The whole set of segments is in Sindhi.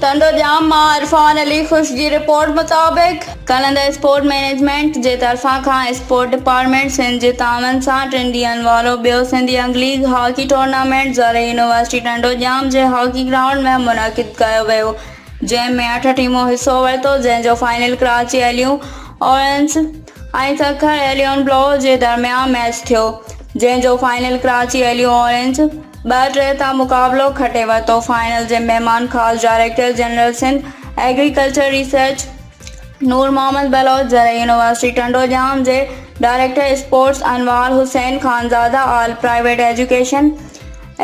ٽنڊو ڄام مان عرفان علي خوش جي رپورٽ مطابق، ڪنند اسپورٽ مئنيجمينٽ جي طرفان کان اسپورٽ ڊپارٽمينٽ سنڌ جي تعاون سان ٽن ڏينهن وارو ٻيو سنڌي انگ ليگ هاڪي ٽورنامينٽ زرعي يونيورسٽي ٽنڊو ڄام جي هاڪي گرائونڊ ۾ منعقد ڪيو ويو جنهن ۾ اٺ ٽيمون حصو ورتو جنهن جو فائنل ڪراچي عليون اورينز ۽ سک ۽ اليون بلو جي درميان ميچ ٿيو جنهن جو فائنل ڪراچي اليون اورينج ٻه ٽي تان مقابلو کٽي ورتو فائنل جي مهمان خاص director general Sindh agriculture research Noor Muhammad Baloch زرعي يونيورسٽي ٽنڊو ڄام جي director sports Anwar Hussain Khanzada all private education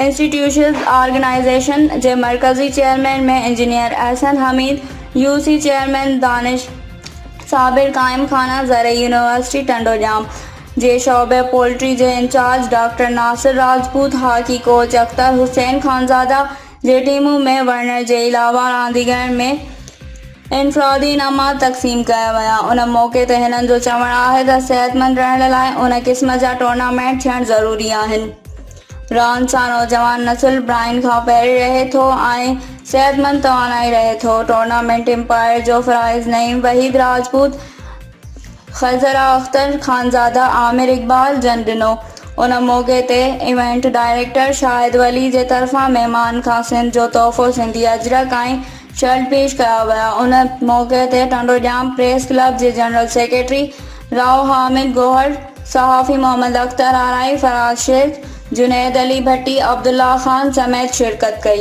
institutions organization جي مرڪزي chairman ۾ engineer Ahsan Hameed, U C chairman Danish Sabir, قائم خانه زرعي يونيورسٽي ٽنڊو ڄام جي شعبي پولٽري جي incharge doctor Nasir Rajput, hockey coach Akhtar Hussain Khanzada جي ٽيمون ۾ وڙهڻ جي علاوه رانديگرن ۾ انفرادي انعامات تقسيم ڪيا ويا، ان موقعي تي هنن جو چوڻ آهي ته صحتمند رهڻ لاء ان قسم جا ٽورنامينٽ ٿيڻ ضروري آهن. رهڻ سان نوجوان نسل براين کان پري رهي ٿو ۽ صحتمند توانائي رهي ٿو ٽورنامينٽ امپائر جو فرائض نعيم وحيد راجپوت خضرا اختر خانزاده عامر اقبال جن ڏنو ان موقعي تي ايونٽ ڊائريڪٽر شاهد ولي جي طرفان مهمان کان سنڌ جو تحفو سنڌي اجرڪ ۽ شرط پيش ڪيا ويا. ان موقعي تي ٽنڊو ڄام پريس ڪلب جي جنرل سيڪريٽري راء حامد گوهر، صحافي محمد اختر آرائي، فراز شيخ، جنيد علي ڀٽي، عبدالله خان سميت شرڪت ڪئي.